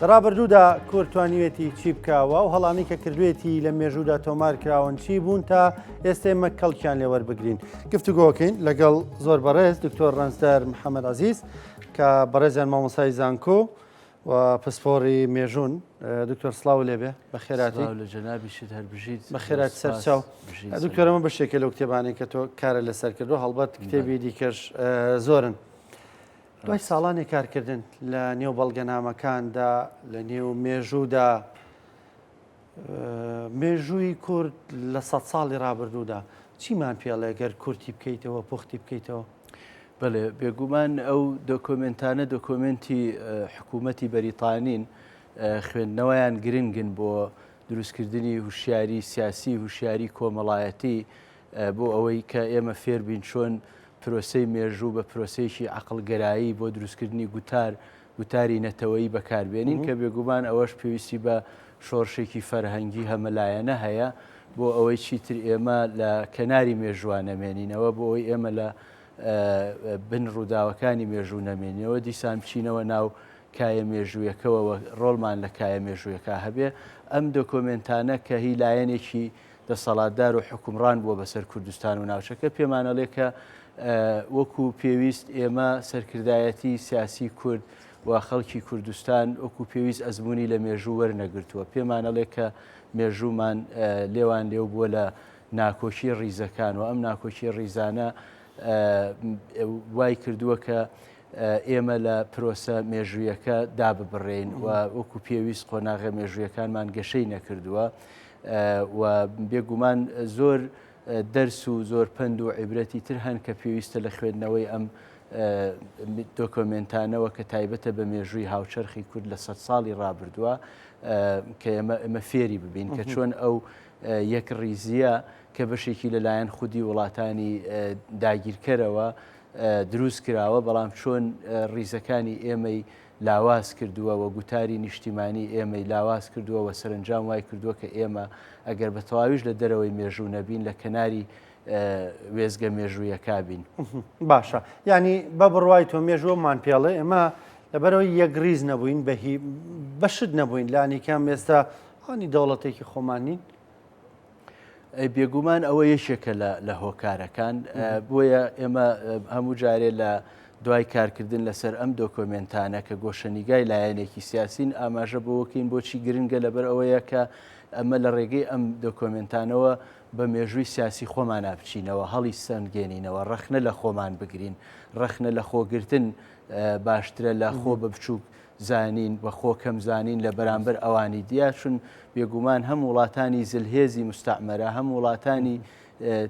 لە ڕابردوودا کورد توانیوێتی چی بکەوە و هەڵانی کە کردوێتی لە مێژوودا تۆمار کراون چی بوون تا ئێستێ مە کەڵکیان لێوەربگرین گفتوگۆکەین لەگەڵ زۆر بەڕێز دکتۆر ڕەنجدار محەممەد عزیز کە بەڕێزیان مامۆسای زانکۆ و پسپۆری مێژوون دکتۆر سلااو لێبێ بە خێراتی لە جەنابیشت هەربژیت بە خێرات سەرچاو دکتۆرەمە بەشێکە لەو کتێبانی کە تۆ کارە لەسەر کردو هەڵبەت کتێبی دیکەش زۆرن. دوای ساڵانی کارکردن لە نێو بەڵگەنامەکاندا لە نێو مێژوودا مێژووی کورد لە سە ساڵی رابرردوودا چیمان پێڵێ گەر کورتی بکەیتەوە پوختی بکەیتەوە بەێ بێگومان ئەو دۆکۆمنتانە دۆکۆمنتی حکوومەتی بەریتانین خوێندنەوەیان گرنگن بۆ دروستکردنی هوشیاری سیاسی هوشیاری کۆمەڵایەتی بۆ ئەوەی کە ئێمە فێر بین چۆن پرۆسەی مێژوو بە پرۆسەیەکی عەقڵگەرایی بۆ دروستکردنی گوتار، گوتاری نەتەوەیی بەکار بێنین، کە بێگومان ئەوەش پێویستی بە شۆڕشێکی فەرهەنگی هەمەلایەنە هەیە بۆ ئەوەی چیتر ئێمە لە کەناری مێژووا نەمێنینەوە، بۆ ئەوەی ئێمە لە بن ڕووداوەکانی مێژوو نەمێنینەوە، دیسان بچینەوە ناو کایە مێژوویەکەوە و ڕۆڵمان لە کایە مێژوویەکە هەبێ. ئەم دۆکۆمێنتانە کە هی لایەنێکی دەسەڵاتدار و حوکمڕان بووە بەسەر کوردستان و ناوچەکە پێمان ئەڵێ کە وەکو پێویست ئێمە سەرکردایەتی سیاسی کورد و خەڵکی کوردستان وەکو پێویست ئەزمموی لە مێژوو وەرنەگرتووە پێمانەڵێ کە مێژوومان لێوان لێو بووە لە ناکۆکی ڕیزەکان و ئەم ناکۆکی ڕیزانە وای کردووە کە ئێمە لە پرۆسە مێژوویەکە داببڕین و وەکو پێویست قۆناغە مێژوویەکانمان گەشەی نەکردووە. و بێ گومان زۆر دەرس و زۆر پەند و عیبرەتی تر هەن کە پێویستە لە خوێندنەوەی ئەم دۆکۆمێنتانەوە کە تایبەتە بە مێژووی هاوچەرخی کورد لە سەد ساڵی ڕابردووە کە ئێمە ئێمە فێری ببین کە چۆن ئەو یەک ڕیزیە کە بەشێکی لەلایەن خودی وڵاتانی داگیرکەرەوە دروست کراوە بەڵام چۆن ڕیزەکانی ئێمەی لاواز کردووە و گوتاری نیشتیمانیی ئێمەی لاواز کردووە و سەرەنجام وای کردووە کە ئێمە ئەگەر بە تەواویش لە دەرەوەی مێژوو نەبین لە کەناری وێستگە مێژوویەکا بین. باشە یانی بە بڕوای تۆ مێژوومان پێڵێ ئێمە لەبەرەوەی یەکریز نەبووین بەهی بەشت نەبووین لانیکەم ئێستا هانی دەوڵەتێکی خۆمانین بێگومان ئەوە یەکێکە لە هۆکارەکان بۆیە ئێمە هەموو جارێ لە دوای کارکردن لەسەر ئەم دۆکۆمنتانە کە گۆشەنیگای لایەنێکی سیاسین ئاماژە بۆکەین بۆچی گرنگە لەبەر ئەوەیە کە ئەمە لە ڕێگەی ئەم دۆکۆمنتانەوە بە مێژووی سیاسی خۆمان نابچینەوە هەڵی سەنگێنینەوە ڕەخنە لە خۆمان بگرین ڕەخنە لە خۆگرتن باشترە لە خۆ بە بچووک زانین و خۆ کەم زانین لە بەرامبەر ئەوانی دیا چون بێگومان هەم وڵاتانی زلهێزی مستعمرە هەم وڵاتانی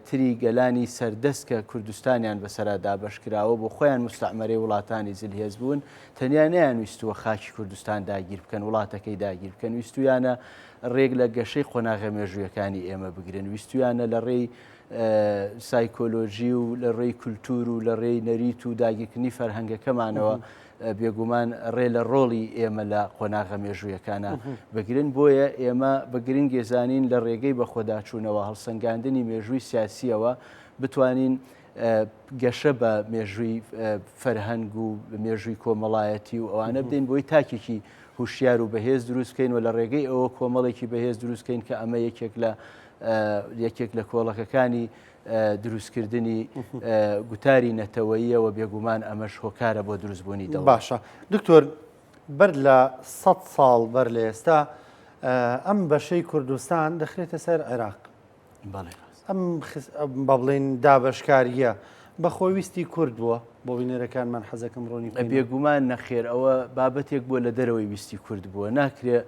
تری گەلانی سەردەست کە کوردستانیان بەسەرا دابش کراوە بۆ خۆیان مستعمەرەی وڵاتانی زلهێز بوون تەنیا نیان ویستووە خاکی کوردستان داگیر بکەن وڵاتەکەی داگیر بکەن ویستویانە ڕێک لە گەشەی قۆناغە مێژوویەکانی ئێمە بگرن ویستویانە لە ڕێی سایکۆلۆژی و لە ڕێی کولتور و لە ڕێی نەریت و داگیرکردنی فەرهەنگەکەمانەوە بێگومان ڕێ لە ڕۆڵی ئێمە لە قۆناغە مێژوویەکانە بگرن بۆیە ئێمە بە گرنگێ زانین لە ڕێگەی بەخۆداچوونەوە هەڵسەنگاندنی مێژووی سیاسیەوە بتوانین گەشە بە مێژووی فەرهەنگ و مێژووی کۆمەڵایەتی و ئەوانە بدەین بۆی تاکێکی هوشیار و بەهێز دروستکەین و لە ڕێگەی ئەوە کۆمەڵێکی بەهێز دروستکەین کە ئەمە یەکێک لە یەکێک لە کۆڵەکەکانی دروستکردنی گوتاری نەتەوەییەوە بێگومان ئەمەش هۆکارە بۆ دروستبوونی دەڵ باشە دکتۆر بەر لە سە ساڵ بەر لە ئێستا ئەم بەشەی کوردستان دەخرێتە سەر عێراق ئەم بە بڵین دابشکاریە بە خۆویستی کورد بووە بۆ بینەرەکانمان حەزەکەم ڕۆنی بێگومان نەخێر ئەوە بابەتێک بووە لە دەرەوەی ویستی کورد بووە ناکرێ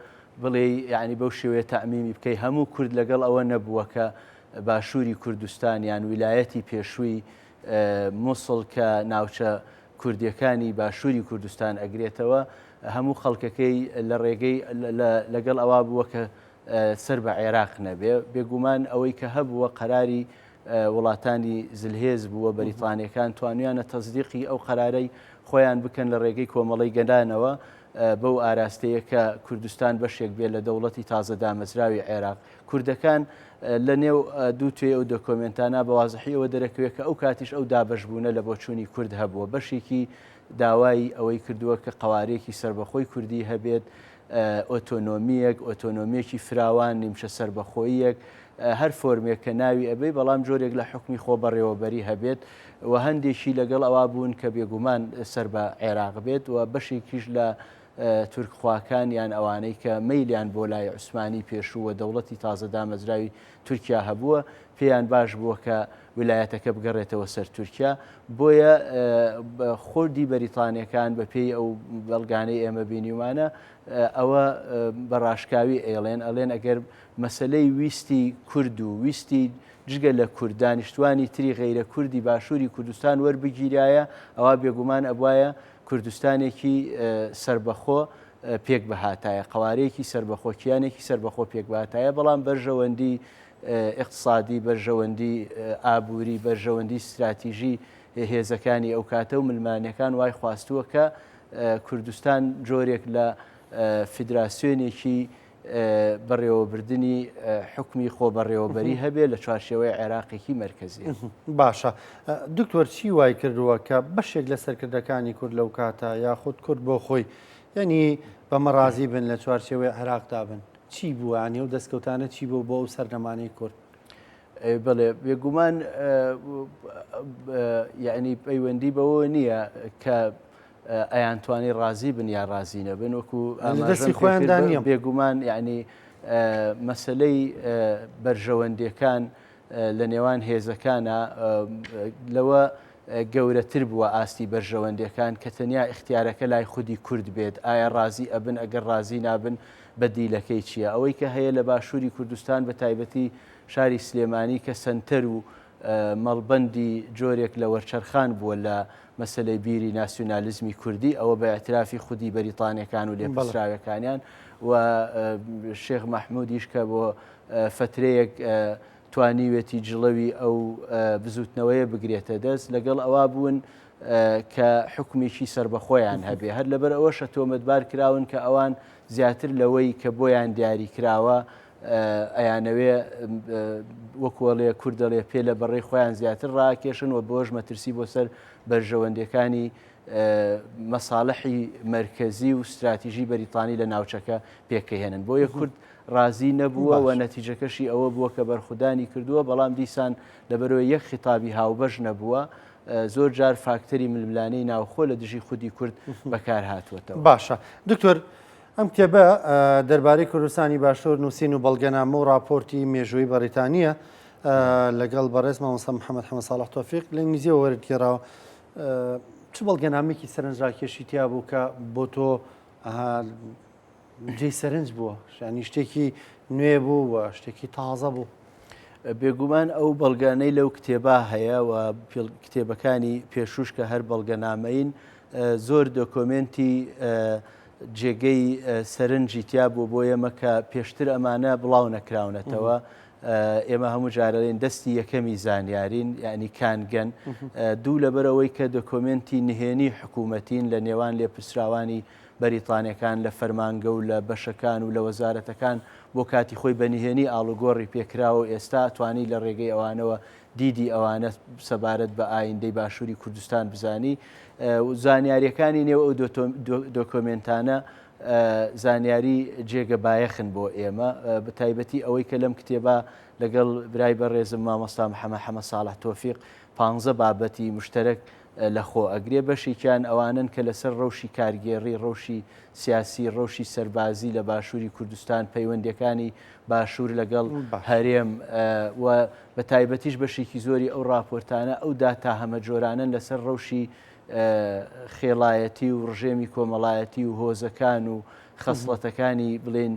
بڵێ ینی بەو شێوەیە تامیمی بکەی هەموو کورد لەگەڵ ئەوە نەبووە کە باشووری کوردستان یان ویلایەتی پێشووی موسڵ کە ناوچە کوردیەکانی باشووری کوردستان ئەگرێتەوە هەموو خەڵکەکەی لە ڕێگەی لەگەڵ ئەوا بووە کە سەر بە عێراق نەبێ بێگومان ئەوەی کە هەبووە قەراری وڵاتانی زلهێز بووە بەریتانەکان توانیانە تەزدیقی ئەو قەرارەی خۆیان بکەن لە ڕێگەی کۆمەڵی گەدانەوە بەو ئاراستەیە کە کوردستان بەشێک بێ لە دەوڵەتی تازە دامەزراوی عێراق کوردەکان لە نێو دوو توێ ئەو دۆکۆمێنتانە بە وازحی ئەوە دەرەکەوێت کە ئەو کاتیش ئەو دابەشبوونە لە بۆچوونی کورد هەبووە بەشێکی داوای ئەوەی کردووە کە قوارێکی سربەخۆی کوردی هەبێت ئۆتۆنۆمیەک ئۆتۆنۆمیەکی فراوان نیمچە سربەخۆیەک هەر فۆرمێک کە ناوی ئەبەی بەڵام جۆرێک لە حکمی خۆ بەڕێوەبەری هەبێت و هەندێکی لەگەڵ ئەوا بوون کە بێگومان سەر بە عێراق بێت و بەشێکیش لە تورکخواکان یان ئەوانەی کە مەیلیان بۆ لای عوسمانی پێشوو و دەوڵەتی تازە دامەزراوی تورکیا هەبووە، پێیان باش بووە کە ویلایەتەکە بگەڕێتەوە سەر تورکیا. بۆیە خودی بەریتانییەکان بەپێی ئەو بەڵگانەی ئێمە بینیومانە، ئەوە بە ڕاشکاوی ئەیڵێن، ئەڵێن ئەگەر مەسەلەی ویستی کورد و ویستی جگە لە کورد دانیشتووانی تری غەیرە کوردی باشووری کوردستان وەربگیرایە، ئەوا بێگومان ئەبوایە کوردستانێکی سەربەخۆ پێک بهاتایە قوارەیەکی سەربەخۆ کیانێکی سەربەخۆ پێک باتایە بەڵام بەرژەوەندی اقتصادی بەرژەوەندی ئابووری بەرژەوەندی استراتیژی هێزەکانی ئەو کاتە و ملمانەکان وای خواستووە کە کوردستان جۆرێک لە فیدراسیۆنێکی بەڕێوەبردنی حکومی خۆبەڕێوەبەری هەبێ لە چوارشێوەی عێراقێکی مرکزی باشە دکتۆر چی وای کردووە کە بەشێک لە سەرکردەکانی کورد لەو کاتە یاخود کورد بۆ خۆی یعنی بەمەڕازی بن لە چوارشێوەی عێراقدا بن چی بووە ئەنی و دەستکەوتانە چی بۆ بۆ ئەو سەردەمانی کورد بڵێ بێگومان یعنی پەیوەندی بەوە نییە کە ئەیانتوانی ڕازی بن یا ڕازی نەبن وەکو ئەمەدەستی خۆیان دانیە بێگومان یعنی مەسلەی بەرژەوەندەکان لە نێوان هێزەکانە لەوە گەورەتر بووە ئاستی بەرژەوەندەکان کە تەنیا اختیارەکە لای خودی کورد بێت ئایا ڕازی ئەبن ئەگەر ڕازی نابن بە دیلەکەی چییە ئەوەی کە هەیە لە باشووری کوردستان بە تایبەتی شاری سلێمانی کە سنتەر و مەڵبەندی جۆرێک لە وەرچەرخان بووە لە مەسەلەی بیری ناسیونالیزمی کوردی ئەوە بە ئەترافی خودی بەریتانەکان و لێپسراوەکانیان و شێخ مەحمودیش کە بۆ فترەیەک توانیوێتی جڵەوی ئەو بزوتنەوەیە بگرێتە دەست لەگەڵ ئەوە بوون کە حکومێکی سربەخۆیان هەبێ هەر لەبەر ئەوە شە تۆمەتبار کراون کە ئەوان زیاتر لەوەی کە بۆیان دیاری کراوە ئەیانەوێ وەکو ئەڵێ کورد دەڵێ پێ لە بەڕێی خۆیان زیاتر ڕاکێشن و بۆش مەترسی بۆ سەر بەرژەوەندەکانی مەساڵحی مرکزی و استراتیژی بەریتانی لە ناوچەکە پێکەهێنن بۆیە کورد ڕازی نەبووە و نەتیجەکەشی ئەوە بووە کە بەرخودانی کردووە بەڵام دیسان لەبەرەوە یەک خیتابی هاوبەش نەبووە زۆر جار فاکتەری ململانەی ناوخۆ لە دژی خودی کورد بەکار هاتووەتەوە باشە دکتۆر ئەم کتێبە دەربارەی کوردستانی باشوور نووسین و بەڵگەنامە و ڕاپۆرتی مێژووی بەڕیتانیە لەگەڵ بەڕێز مامۆستا محەممەد حەمە ساڵح تۆفیق لە ئینگلیزیەوە وەرگێراوە چ بەڵگەنامێکی سەرنجڕاکێشی تیا بوو کە بۆ تۆ جێ سەرنج بووە ینی شتێکی نوێ بوو و شتێکی تازە بوو بێگومان ئەو بەڵگانەی لەو کتێبا هەیە و کتێبەکانی پێشوش کە هەر بەڵگەنامەین زۆر دۆکۆمنتی جێگەی سەرنجی تیا بوو بۆ ئێمە کە پێشتر ئەمانە بڵاو نەکراونەتەوە. ئێمە هەموو جارەێن دەستی یەکەمی زانیارین یعنی کانگەن دوو لەبەرەوەی کە دۆکۆمنتی نهێنی حکوومەتین لە نێوان لێپرسراوانی بەریتانەکان لە فەرمانگە و لە بەشەکان و لە وەزارەتەکان بۆ کاتی خۆی بە نهێنی ئاڵوگۆڕی پێکراوە و ئێستا توانی لە ڕێگەی ئەوانەوە دیدی ئەوانە سەبارەت بە ئایندەی باشووری کوردستان بزانی و زانیاریەکانی نێو ئەو دۆکۆمنتانە زانیاری جێگە بایەخن بۆ ئێمە بە تایبەتی ئەوەی کە لەم کتێبە لەگەڵ برای بە ڕێزم مامۆستا محەمە حەمە ساڵح تۆفیق پ بابەتی مشتەرەک لە خۆ ئەگرێ بەشێکیان ئەوانن کە لەسەر ڕەوشی کارگێڕی ڕەوشی سیاسی ڕەوشی سەربازی لە باشووری کوردستان پەیوەندەکانی باشوور لەگەڵ هەرێم و بە تایبەتیش بەشێکی زۆری ئەو راپۆرتانە ئەو داتا هەمە جۆرانن لەسەر ڕەوشی خێڵایەتی و ڕژێمی کۆمەڵایەتی و هۆزەکان و خەسڵەتەکانی بڵێن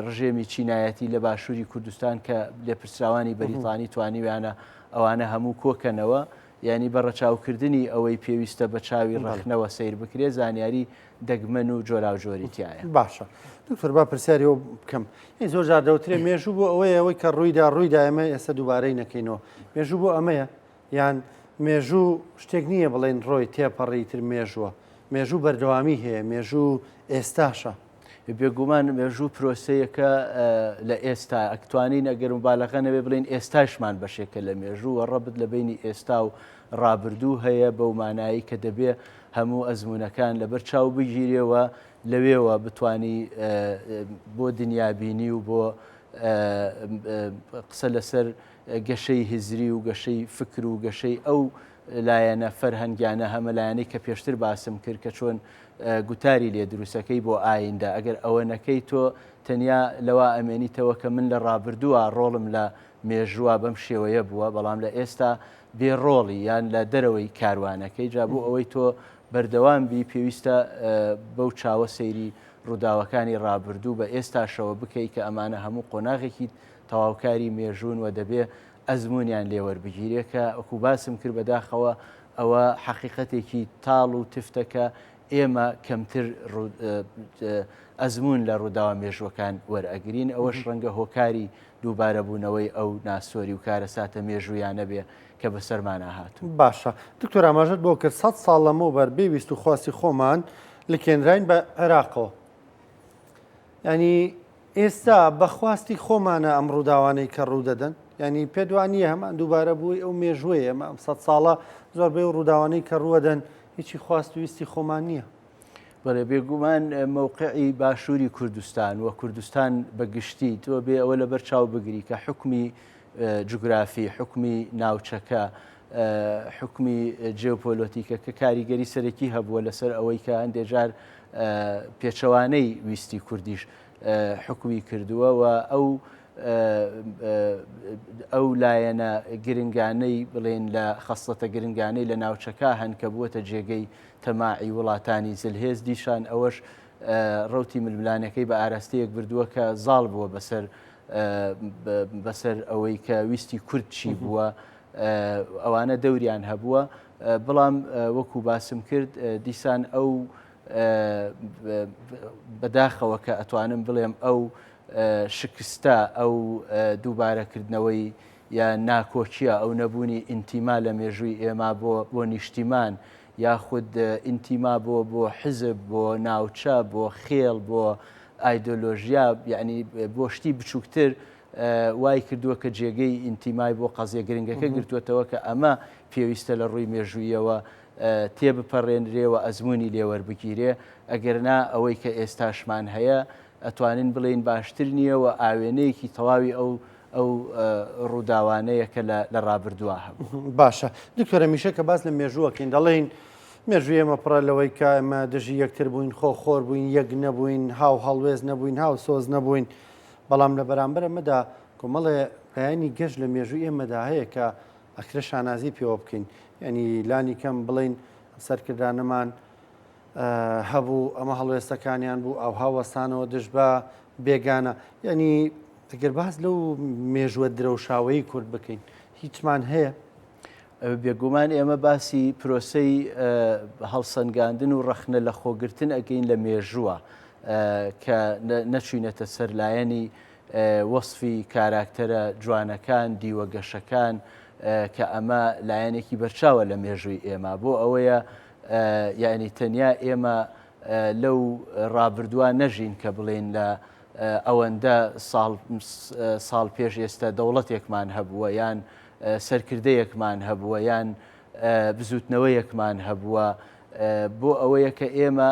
ڕژێمی چینایەتی لە باشووری کوردستان کە لێپرسراوانی بەریتانی توانیویانە ئەوانە هەموو کۆکەنەوە ینی بە ڕەچاوکردنی ئەوەی پێویستە بە چاوی ڕخنەوە سیر بکرێ زانیاری دەگمەن و جۆراوجۆری تایە باشە دکتۆر با پرسیاری ئەو بکەم ی زۆر جار دەوترێ مێژوو بۆ ئەوەیە ئەوەی کە ڕوویدا ڕوویدا ئەمە ئێستا دووبارەی نەکەینەوە مێژوو بۆ ئەمەیە یان مێژوو شتێک نییە بڵێن ڕۆی تێپەڕی تر مێژووە مێژوو بەردەوامی هەیە مێژوو ئێستاشە بێگومان مێژوو پرۆسەیەکە لە ئێستا ئەکتوانین ئەگەرم بالەغەنەوێ بڵین ئێستاشمان بەشێکە لە مێژوو وە ڕەبت لە بینی ئێستا و ڕابردوو هەیە بەو مانایەی کە دەبێ هەموو ئەزموونەکان لەبەر چاو بگیرێ و لەوێوە بتوانی بۆ دنیابینی و بۆ قسە لەسەر گەشەی هزری و گەشەی فکر و گەشەی ئەو لایەنە فەرهەنگیانە هەمە لایەنەی کە پێشتر باسم کرد کە چۆن گوتاری لێ دروستەکەی بۆ ئایندە ئەگەر ئەوە نەکەی تۆ تەنیا لەوا ئەمێنیتەوە کە من لە ڕابردووە ڕۆڵم لە مێژووە بەم شێوەیە بووە بەڵام لە ئێستا بێ ڕۆڵی یان لە دەرەوەی کاروانەکەی جا بۆ ئەوەی تۆ بەردەوام بی پێویستە بەو چاوە سەیری ڕووداوەکانی ڕابردوو بە ئێستاشەوە بکەی کە ئەمانە هەموو قۆناغێکی تەواوکاری مێژوون و دەبێ ئەزمونیان لێوەربگیرێ کە ئەکو باسم کرد بەداخەوە ئەوە حەقیقەتێکی تاڵ و تفتەکە ئێمە کەمتر ئەزمون لە ڕووداوە مێژووەکان وەرئەگرین ئەوەش ڕەنگە هۆکاری دووبارەبوونەوەی ئەو ناسۆری و کارە ساتە مێژوویانە بێ کە بەسەرمانە هاتوو باشە دکتۆر ئاماژت بۆ کرد سە ساڵ لەمە بەر بێویست و خواستی خۆمان لکێنراین بە عێراقەوە ینی ئێستا بە خواستی خۆمانە ئەم ڕووداوانەی کە ڕوو دەدەن یعنی پێت وا نییە هەمان دووبارە بووی ئەو مێژووی ئێمە ئەم سەد ساڵە زۆربەی و ڕووداوانەی کە ڕووەدەن هیچی خواست و ویستی خۆمان نییە بەێ بێگومان مووقعی باشووری کوردستان و کوردستان بەگشتی تۆ بێ ئەوە لەبەر چاو بگری کە حکومی جوگرافی حکومی ناوچەکە حوکمی جێۆپۆلۆتیکەکە کاریگەری سەرەکی هەبووە لەسەر ئەوەی کە هەندێک جار پێچەوانەی ویستی کوردیش حکومی کردووە و ئەو ئەو لایەنە گرنگانەی بڵێن لە خەستەتە گرنگانەی لە ناوچەکە هەن کە بووە جێگەی تەماعی وڵاتانی زلهێز دیشان ئەوەش ڕوتی ململانەکەی بە ئاراستەیەک بردووە کە زاڵ بووە بەسەر بەسەر ئەوەی کە ویستی کورد چی بووە ئەوانە دەوریان هەبووە بەڵام وەکو باسم کرد دیسان ئەو بەداخەوە کە ئەتوانم بڵێم ئەو شکستە ئەو دووبارەکردنەوەی یا ناکۆکیە ئەو نەبوونی ئینتیما لە مێژووی ئێمە بۆ بۆ نیشتیمان یاخود ئینتیما بۆ بۆ حزب بۆ ناوچە بۆ خێڵ بۆ ئایدۆلۆژیا یعنی بۆ شتی بچووکتر وای کردووە کە جێگەی ئینتیمای بۆ قەزیە گرنگەکە گرتووەتەوە کە ئەمە پێویستە لە ڕووی مێژوویەوە تێبپەڕێنرێ و ئەزمموی لێوەربگیرێ ئەگەرنا ئەوەی کە ئێستاشمان هەیە ئەتوانین بڵێین باشتر نییە و ئاوێنەیەکی تەواوی ئەو ئەو ڕووداوانەیە کە لە ڕابردووە هەبوو باشە دکتۆرە میشە کە باس لە مێژووەکەین دەڵێین مێژوی ئێمە پڕە لەوەی کە ئەمە دژی یەکتر بووین خۆ خۆر بووین یەک نەبووین هاو هەڵوێز نەبووین هاو سۆز نەبووین بەڵام لە بەرامبەر ئەمەدا کۆمەڵێ لایەنی گەش لە مێژووی ئێمەدا هەیە کە ئەکرێ شانازی پێوە بکەین یعنی لانی کەم بڵین سەرکردانەمان هەبوو ئەمە هەڵوێستەکانیان بوو ئەو هاوەستانەوە دژ بە بێگانە یعنی ئەگەر باس لەو مێژووە درەوشاوەیی کورد بکەین هیچمان هەیە بێگومان ئێمە باسی پرۆسەی هەڵسەنگاندن و ڕەخنە لە خۆگرتن ئەگەین لە مێژووە کە نەچوینەتە سەر لایەنی وەصفی کاراکتەرە جوانەکان دیوە گەشەکان کە ئەمە لایەنێکی بەرچاوە لە مێژووی ئێمە بۆ ئەوەیە یعنی تەنیا ئێمە لەو ڕابردووە نەژین کە بڵێن لە ئەوەندە ساڵ پێش ئێستا دەوڵەتێکمان هەبووە یان سەرکردەیەکمان هەبووە یان بزووتنەوەیەکمان هەبووە بۆ ئەوەیە کە ئێمە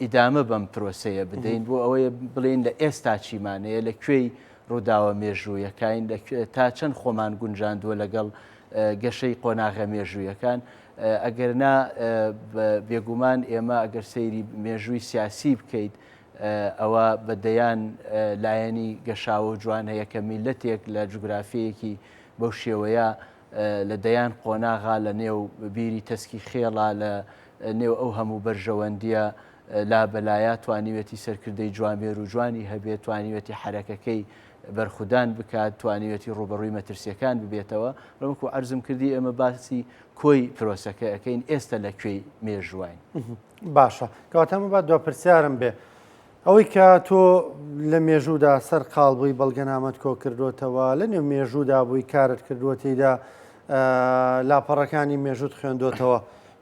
ئیدامە بەم پرۆسەیە بدەین بۆ ئەوەیە بڵێن لە ئێستا چیمانەیە لە کوێی ڕووداوە مێژوویەکەین تا چەند خۆمان گونجاندووە لەگەڵ گەشەی قۆناغە مێژوویەکان ئەگەرنا بێگومان ئێمە ئەگەر سەیری مێژووی سیاسی بکەیت ئەوە بە دەیان لایەنی گەشاوە و جوان هەیە کە میلەتێک لە جوگرافیەیەکی بەو شێوەیە لە دەیان قۆناغا لە نێو بیری تەسکی خێڵا لە نێو ئەو هەموو بەرژەوەندیە لابەلایە توانیوێتی سەرکردەی جوامێر و جوانی هەبێت توانیوێتی حرەکەکەی بەرخودان بکات توانیوێتی ڕوبەڕووی مەترسیەکان ببێتەوە ڕمک و ئەرزم کردی ئێمە باسی کۆی پرۆسەکە ئەەکەین ئێستا لە کوێی مێژوواین. باشە کەواتە مەبات دو پرسیارم بێ ئەوەی کە تۆ لە مێژوودا سەر قاڵ بووی بەڵگەنامەت کۆ کردوتەوە لە نێو مێژوودا بووی کارت کردووە تێیدا لاپەڕەکانی مێژوت خوێندوتەوە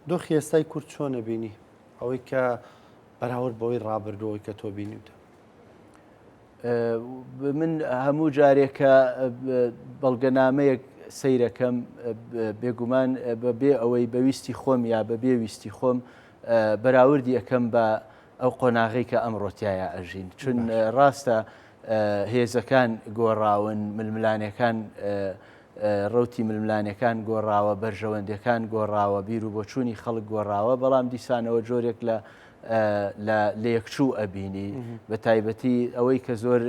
دۆخی ئێستای کورد چۆنە بینی ئەوەی کە بەراورد بەوەی ڕابردوەوەی کە تۆ بینیوتە من هەموو جارێک کە بەڵگەنامەیەک سەیرەکەم بێگومان بە بێ ئەوەی بەویستی خۆم یا بە بێ ویستی خۆم بەراوردی ئەەکەم بە ئەو قۆناغی کە ئەمڕۆتیایە ئەژین چون ڕاستە هێزەکان گۆڕاون ململانەکان ڕوتی ململانەکان گۆڕاوە بەرژەوەندەکان گۆڕاوە بیر و بۆچوونی خەڵک گۆڕاوە بەڵام دیسانەوە جۆرێک لە لە لێکچوو ئەبینی بە تایبەتی ئەوەی کە زۆر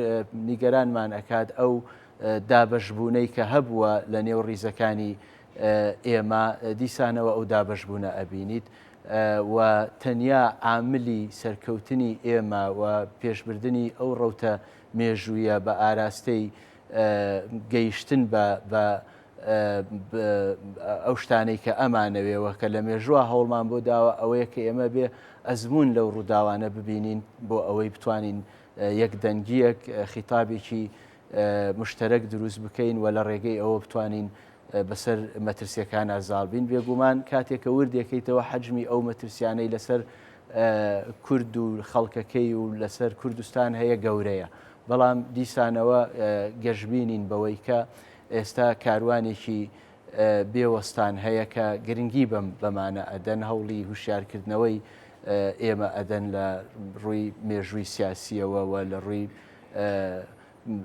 نیگەرانمان ئەکات ئەو دابشبوونەی کە هەبووە لە نێو ڕیزەکانی ئێمە دیسانەوە ئەو دابشبوونە ئەبینیت و تەنیا عاملی سەرکەوتنی ئێمە و پێشبردننی ئەو ڕوتە مێژوویە بە ئاراستەی گەیشتن بە ئەو شتانەی کە ئەمانەوێەوە کە لە مێژووە هەوڵمان بۆ داوە ئەوەیە کە ئێمە بێ ئەزمون لەو ڕووداوانە ببینین بۆ ئەوەی بتوانین یەک دەنگیەک خیتابێکی مشتەرەک دروست بکەین و لە ڕێگەی ئەوە بتوانین بەسەر مەترسیەکان ئازاڵبین بێگومان کاتێکە وردێکیتەوە حەجمی ئەو مەترسیانەی لەسەر کورد و خەڵکەکەی و لەسەر کوردستان هەیە گەورەیە بەڵام دیسانەوە گەشببینین بەوەی کە ئێستا کاروانێکی بێ وەستان هەیە کە گرنگی بەم بەمانە ئەدەن هەوڵی هوشیارکردنەوەی ئێمە ئەدەن لە ڕووی مێژووی سیاسیەوە و لە ڕووی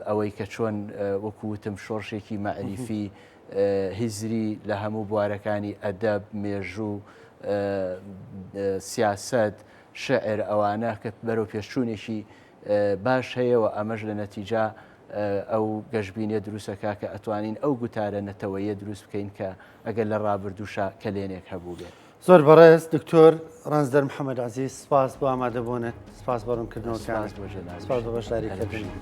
ئەوەی کە چۆن وەکووتم شۆڕشێکی مەعریفی هیزری لە هەموو بوارەکانی ئەدەب مێژوو سیاست شعر ئەوانە کە بەرەو پێشچوونێکی باش هەیەەوە ئەمەش لە نەتیجا ئەو گەشبینیە دروستەکە کە ئەتوانین ئەو گوتارە نەتەوەیە دروست بکەین کە ئەگەر لە ڕابردووشە کەلێنێک هەبوو بێت. زۆر بەڕێز دکتۆر ڕەنجدەر محەمەد عزیز سپاس بۆ ئامادەبوونت سپاس بۆ ڕوونکردنەوەکانت سپاس بۆ بەشداریکردنت.